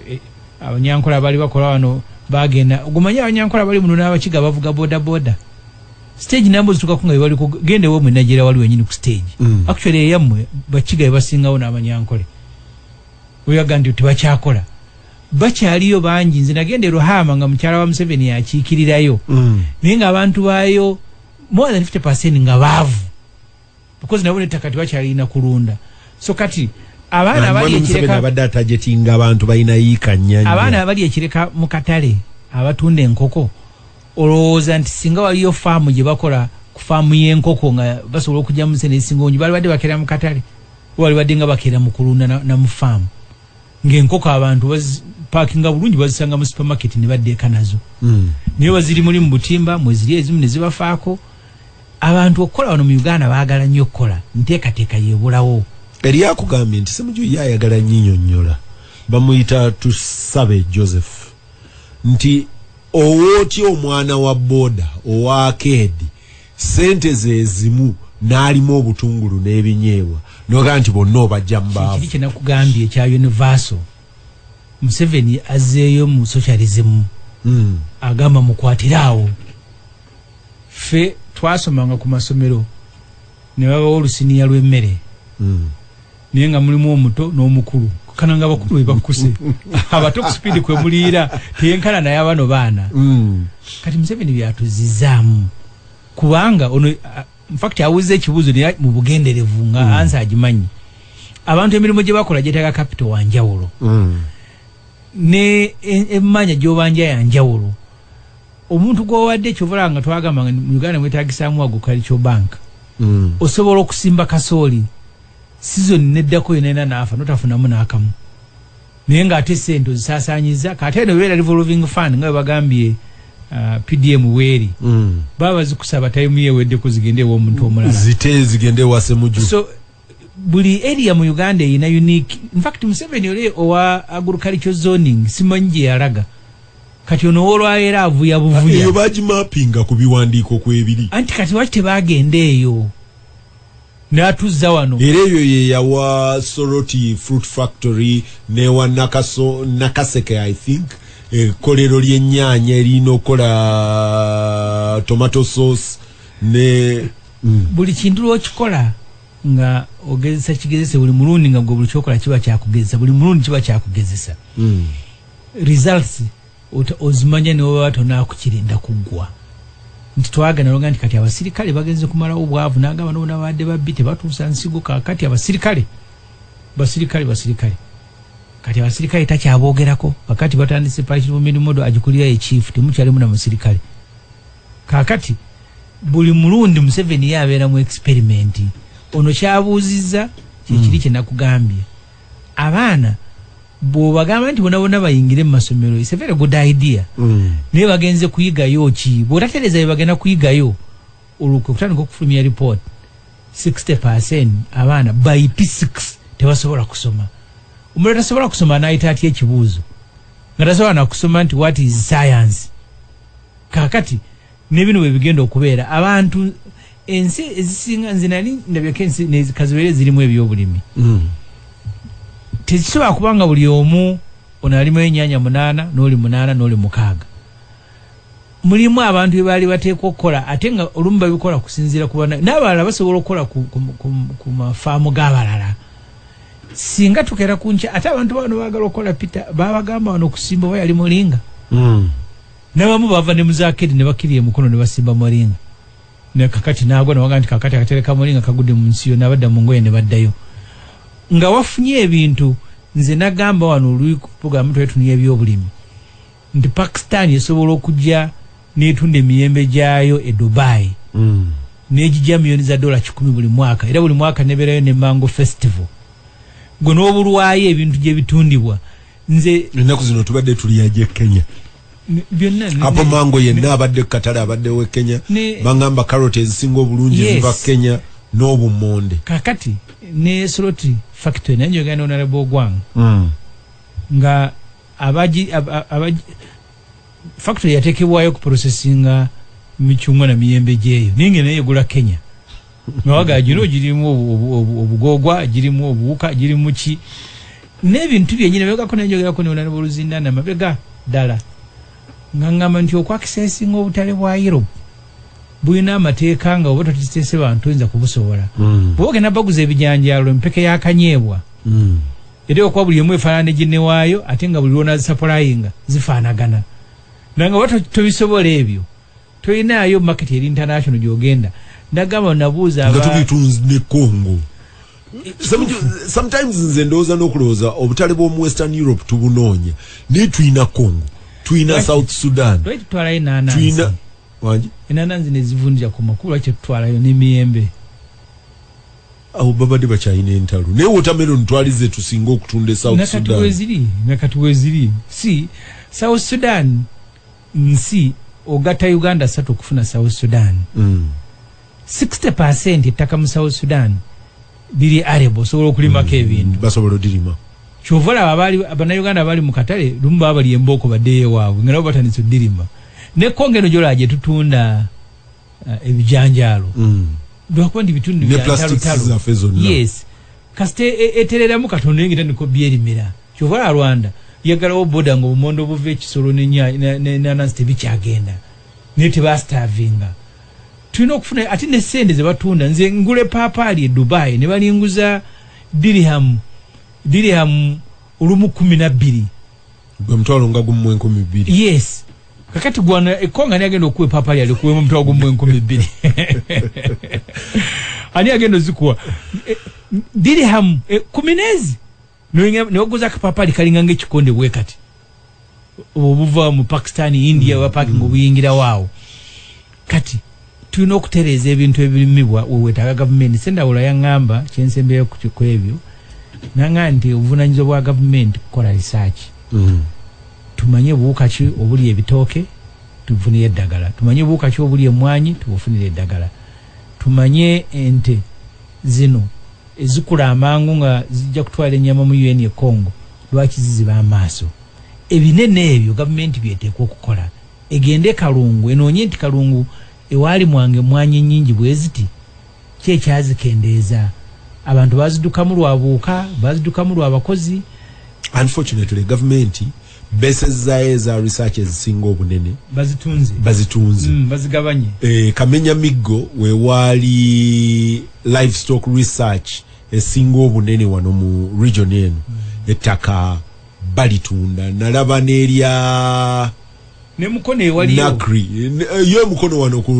e, e, abanyankola bali bakola wano bagenda gumanyi abanyankola bali muno n'abakiga bavuga bodaboda stage nambo zituka kunga bali kugende wo mwenajira wali wenyini ku stage mm. actually eyamwe bachiga ebasinga ona abanyankole uya gandi uti bachakola bacha aliyo banji nzina gende rohama nga mchara wa mseveni ya chikirira yo mm. nenga abantu bayo more than 50% nga bavu because nabo nettaka tebakyalina kulunda so kati abaana abali ekireka abadde atajetinga abantu balina yiika nnyanya abaana abali ekireka mu katale abatunda enkoko olowooza nti singa waliyo faamu gye bakola ku faamu y'enkoko nga basobola okugyamu sente ezisinga ongi balibadde bakeera mu katale walibadde nga bakeera mu kulunda na mu faamu ng'enkoko abantu paakinga bulungi bazisanga mu supermarket ne baddeeka nazo hmm. naye waziri muli mu butimba mweziri ezimu ne zibafaako abantu okukola wano mu uganda baagala nnyo okukola nteekateeka yebulawo eri akugambye nti semuju ye ayagala nyinyonyola bamuyita tusabe joseph nti owootya omwana wa boda owakeedi sente zezimu n'alimu obutungulu n'ebinyeebwa noga nti bonna obajja mubaavu kyenakugambye ekya universal museveni azzeeyo mu socialism hmm. agamba mukwatire awo ffe twasomanga ku masomero ne babawa olusiniya lw'emmere mm. naye nga mulimu omuto n'omukulu kana nga bakulu bebakkuse abato ku sipiidi kwe muliira teyenkana naye abano baana mm. kati museveni byatuzizaamu kubanga ono infact awuzza ekibuuzo naye mu bugenderevu nga mm. ansa agimanyi abantu emirimu gye bakola gyetaaga kapito wa njawulo mm. ne emmanya gyobanja ya njawulo Omuntu gwowadde kyova olaba nga twagamba nga mu Uganda mwetagisaamu agricultural bank mm. osobola okusimba kasooli sizoni neddako yona yona naafa notafunamu naakamu naye nga ate sente ozisaasanyiza kate eno beera revolving fund nga webagambye uh, pdm weeri mm. baba zikusaba tayimu yewedde kuzigende ewomuntu omulala zite zigende ewasemuju so, buli area mu uganda erina unique infact museveni oli owa agriculture zoning simanyi gye yalaga kati ono wolwaera avuya buvuya eyo bagimapinga ku biwandiiko kwebiri anti kati waki tebagenda eyo natuzza wano era eyo yeyawa soroti fruit factory newa nakaso nakaseke i think ekkolero lyennyanya erina okukola tomato sauce ne mm. buli kintu lwokikola nga ogezesa kigezese buli mulundi nga gwe buli kyokola kiba kyakugezesa buli mulundi kiba kyakugezesa mm. results ozimanya newebaba tonakukirinda kuggwa nti twagana longa nti kati abasirikale bagenze kumalawo obwavu nagamba nobona babadde babbi tebatuusa nsigo kakati abasirikale basirikale basirikale kati abasirikale takyabogerako kakati batandise pakiri mumirimu do agikulira ekiifu temukyalimu na musirikale kakati buli mulundi museveni ye abeera mu experimenti ono kyabuuzizza kyekiri mm. kyenakugambye abaana bwobagamba nti bonabona bayingire mu masomero is a very good idea mm. naye bagenze kuyigayo ki bwotatereeza bye bagenda kuyigayo olwo kwe kutandika okufulumya report 60 percent abaana by p6 tebasobola kusoma omulala tasobola kusoma anayita atya ekibuuzo nga tasobola nakusoma nti what is science kakati nebino bwebigenda okubeera abantu ensi ezisinga nze nali ndabyeko ensi kazibeere zirimu ebyobulimi mm. tekisobola kubanga buli omu ono alimu enyanya munaana noli munaana noli mukaaga mulimu abantu bebaali bateekwa okukola ate nga olumu babikola kusinziira kuba n'abalala basobola okukola ku mafaamu g'abalala singa tukeera ku nkya ate abantu bano baagala okukola pita babagamba wano okusimba oba yali mulinga mm. nabamu bava ne muzakedi ne bakiri emukono ne basimba moringa ne kakati nagwa nawaga nti kakati akatereka moringa kagudde mu nsi yonna badda mu ngoye ne baddayo nga wafunye ebintu nze nagamba wano oluyi ku puroguramu twali tunuya ebyobulimi nti pakistan esobola okujja netunda emiyembe gyayo e dubai mm. negijja miyoni za dola kikumi buli mwaka era buli mwaka nebeerayo ne mango festival gwe n'obulwayo ebintu gye bitundibwa nze ennaku zino tubadde tuli yaje kenya apo mango yenna abadde kukatale abadde we kenya bangamba carot ezisinga obulungi ziva kenya n'obumonde kakati ne sloti factory naye njogera ne onarable ogwang mm. nga abaji factory yatekebwayo kuprocesinga michungwa na miyembe gyeyo naye nga naye egula kenya nawaga gino girimu obugogwa girimu obuwuka girimu ki n'ebintu byenyini begako naye njogerako neona nobuluzindana mabega ddala nga ngamba nti okwakisesinga obutale bwa europe bulina amateeka nga oba totitese bantu oyinza kubusobola hmm. bwoge nabaguza ebijanjalo empeke yakanyeebwa hmm. Era okuba buli emu efaanana ne ginne waayo ate nga buli lw'onaazisapulayinga zifaanagana na nga oba tobisobola ebyo tolinaayo maketi eri international gy'ogenda nagamba nabuuza aba... nga tubitunzi ne congo sometimes nze ndowooza n'okulowooza obutale bw'omu western europe tubunoonya naye tulina congo tulina south sudan tulina enananzi nezivundira ku makulu lwaki tetutwalayo n'emiyembe awo babadde bakyalina entalo naye watermelon twali ze tusinga okutunda e south sudan weziri nakati weziri si south sudan nsi ogata uganda satu okufuna south sudan mm. 60 percent ettaka mu south sudan liri arebo osobola okulimako mm. ebintu basobola odirima kyova olaba abali bannayuganda abali mu katale lumu baba bali embooko baddeyo ewaabwe nga nabo batandise odirima ne kongo eno gyolaba gye tutunda uh, ebijanjaalo mm. lwakuba ndi bitundu yes kasita e, e, etereramu katonda yengeta niko byerimira kyova la rwanda yagalawo boda nga obumondo obuva ekisolo nenanasi tebikyagenda naye tebasitavinga tulina okufuna ate nesente zebatunda nze ngule papaali e dubai nebalinguza dirihamu dirihamu olumu kumi nabbiri gwe mutwalo nga gumu mu enkumi bbiri yes kakati gwana ekkonga ani agenda okuwa epaapa lyali okuwa mu mutwalo gumu mu enkumi bbiri ani agenda ozikuwa e, dirihamu e, kumi neezi newaguza akapaapa ali kalinga nga ekikonde bwe kati obuva mu pakistan india mm, wapakinga mm. obuyingirawo awo kati tulina okutereeza ebintu ebirimibwa wewetaaga gavumenti sendawula yaŋŋamba kyensembyeyo ku ebyo nanga nti obuvunanyizibwa bwa gavumenti kukola risaaki mm. tumanye buwuka ki obuli ebitooke tubufunire eddagala tumanye buwuka ki obuli emwanyi tubufunire eddagala tumanye ente zino ezikula amangu nga zijja kutwala enyama mu un e congo lwaki ziziba amaaso ebinene ebyo gavumenti byeteekwa okukola Egende e Kalungu enoonye nti Kalungu ewalimwa nga emmwanyi ennyingi bweziti, ki ekyazikendeeza? Abantu bazidukamu lwa buwuka, bazidukamu lwa bakozi? Unfortunately gavumenti besezzaayo eza research ezisinga obunene bazitunze, bazitunze. Mm, bazigabanye. E, kamenya miggo wewaali livestock research esinga obunene wano mu region eno mm. ettaka balitunda nalaba nerya ne mukono ewali nakri eh, yo mukono wano ku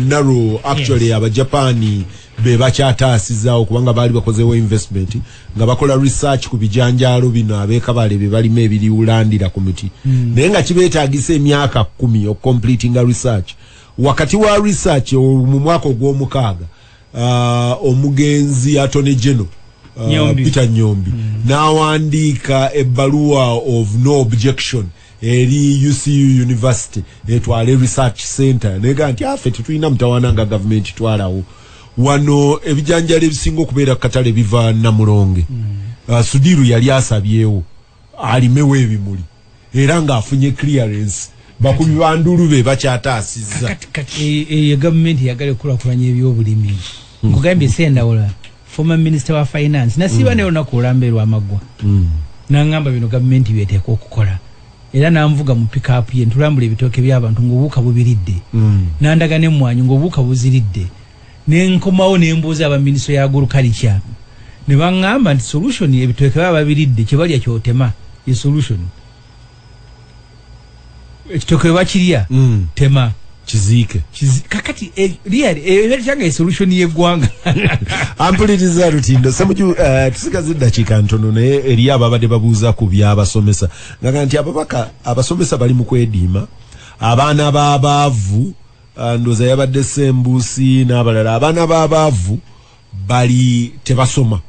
naro actually yes. abajapani be bakyataasizawo kubanga baali bakozewo investment nga bakola research ku bijanjaalo bino abekabale be balima ebiriwulandira ku miti mm. naye nga kibeetagisa emyaka kumi okucompletinga research wakati wa research mu mwaka ogw'omukaaga uh, omugenzi atone geno uh, peter nyombi mm. n'awandiika ebbaluwa of no objection eri ucu university etwale research center nega nti afe tetulina mutawana nga gavumenti twalawo wano ebijanjalo ebisinga okubeera katale biva namulonge mm. uh, sudiru yali asabyewo alimewo ebimuli era ng'afunye clearance bakubi ba ndulu be bakyataasizza e, e, eyo gavumenti yagala ekulakulanya ebyobulimi hmm. nkugambye sendawula former minister wa finance nasiba hmm. naye olunaku olamba erwamaggwa hmm. nangamba bino gavumenti byeteeka okukola era nanvuga mu pikapu ye ntulambula ebitooke by'abantu ng'obuuka bubiridde nandaga n'emmwanyi ng'obuuka buziridde ne nkomawo ne mbuuza aba minisitule ya agurukalica ne baŋŋamba nti solution ebitooke baba babiridde kye balya kyotema ye solution ekitooke bwe bakirya mm. tema kiziike kakati eh, liyali eh, eyo kyanga esolution yeggwanga ampuliriza lutindo semuju eh, tusigaza eddakiika ntono naye eri ababadde babuuza ku byabasomesa ngaga nti ababaka abasomesa bali mu kwediima abaana b'abaavu Ah, ndoza yabadde sembusi n'abalala abaana b'abaavu bali tebasoma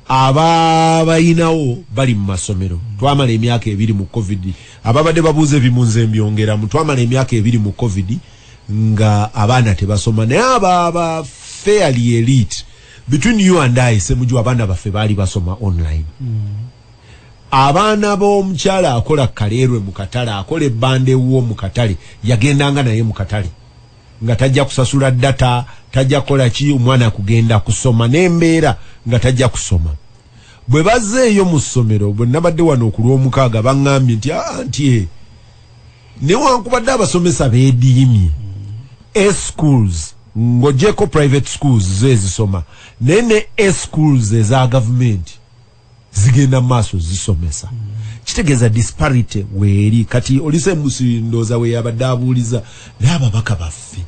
ababayinawo bali mu masomero twamala emyaka ebiri mu covid ababadde babuuza ebimunze mbyongeramu twamala emyaka ebiri mu covid nga abaana tebasoma naye ababa fairly elite between you and i semuju abaana baffe baali basoma online mm. abaana b'omukyala akola kaleerwe mu katale akola ebbanda ewuwo mu katale yagendanga naye mu katale nga tajja kusasula data tajja kukola ki omwana kugenda kusoma n'embeera nga tajja kusoma bwe bazeeyo mu ssomero bwe nabadde wano oku lw'omukaaga baŋŋambye nti aa nti e newankubadde abasomesa beediimye eschools ng'ogyeko private schools zo ezisoma naye ne eschools eza gavumenti zigenda maaso zisomesa mm. kitegeeza disparity weeri kati olise musindooza we yabadde abuuliza naye ababaka baffe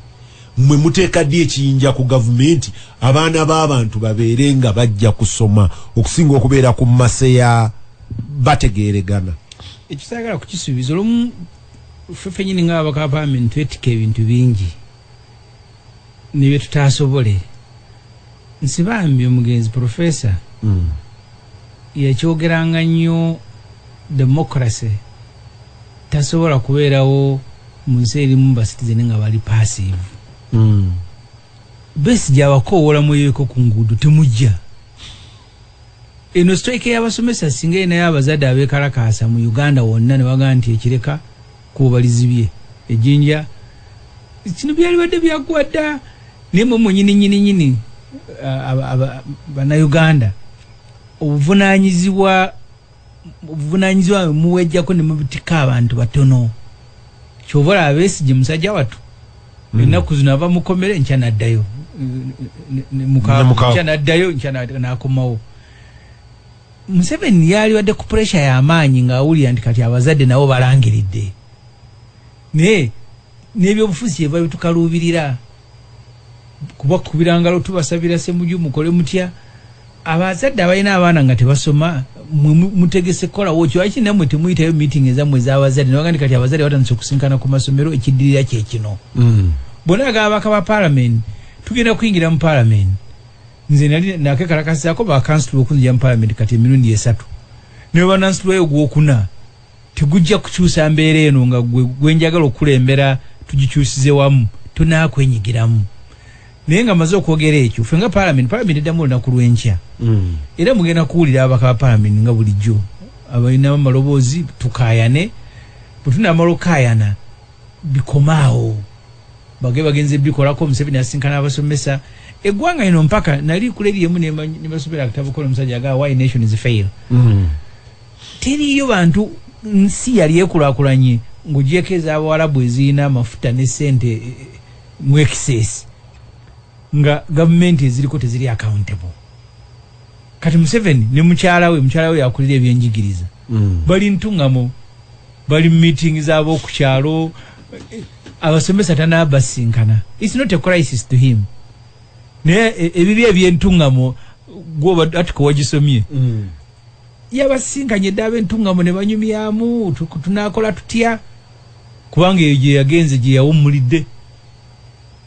mwe muteeka ddi ekiyinja ku gavumenti abaana b'abantu babeere nga bajja kusoma okusinga okubeera ku mase ya bategeeregana ekisagala kukisuubiza olumu fefenyini ngaabakapamenti twetika ebintu bingi ne bye tutaasobole nsi bambi omugenzi profesa mm. yakyogeranga nnyo democracy tasobola kubeerawo mu nsi erimu basitizeni nga bali passive mm. besi gyabakoowola mweyoeko ku nguudo temujja eno strike y'abasomesa singa erinayo abazadde abeekalakaasa mu uganda wonna ne bagaa nti ekireka Kubo balizibye ejinja kino byalibadde byagwada naye mwe mwenyini nyini nyini banauganda obuvunanyizibwa obuvunanyizibwa muwejjako ne mubitika abantu batono kyova olaba besigye musajja watu mm. ennaku zino ava mukomere nkya naddayo nkya naddayo nkya nakomawo museveni yalibadde ku puresha yamaanyi ngaawulira nti kati abazadde nabo balangiridde naye nebyobufuzi kyeva bitukaluubirira kuba kubirangalo tubasabira semuju mukole mutya abazadde abalina abaana nga tebasoma mutegese kukolawo kiwaki namwe temuyitayo meeting ezamwe ezabazadde newagandi kati abazadde batandise okusinkana ku masomero ekiddirira kyekino mm. bona agabaka ba palamenti tugenda kuyingira mu palamenti nze nali nakekalakasizaako bakansitula okunzija mu palamenti kati emirundi esatu naye banansitulayo ogwokuna tegujja kukyusa mbeera eno nga gwe gwenjagala okukulembera tugikyusize wamu tonakwenyigiramu naye nga maze okwogera ekyo fe nga palamenti palamenti eddamu olunaku lwenkya mm. era mugenda kuwulira abaka ba palamenti nga bulijjo abalina amaloboozi tukayane bwetunamala okukayana bikomaawo bage bagenze bikolako museveni asinkana abasomesa egwanga ino mpaka nali kuleli emu nebasomera akatabo kono musajja aga why nations fail mm. teriyo bantu nsi yali ekulakulanye ngujeko ezabawarabu ezirina amafuta ne sente eh, eh, mu excess nga gavumenti eziriko teziri accountable kati museveni ne mukyala we mukyala we yakulira ebyenjigiriza mm. bali ntungamo bali meeting zabo kukyalo abasomesa tanabasinkana it's not a crisis to him naye e, ebibi ebyentungamo gwoba atuka wagisomye mm. yabasinkanye dda abentungamo ne banyumyamu tunakola tutya kubanga eyo gye yagenze gye yawummulidde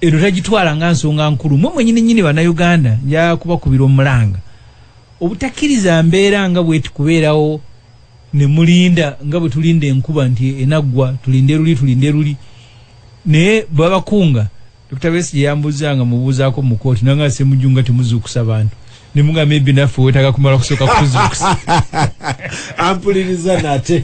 eno tagitwala nga nsonga nkulu mwe mwenyini nyini banauganda njakubakubira omulanga Obutakiriza mbeera nga bweti kubeerawo ne mulinda nga bwe tulinda enkuba nti enaggwa tulinde luli tulinde luli naye babakunga Dr. Besigye yambuuza nga mubuuzaako mu kooti nanga nse mujju nga temuzuukusa bantu ne muga maybe naffe wetaaga kumala kusooka kutuzuukusa ampuliriza nate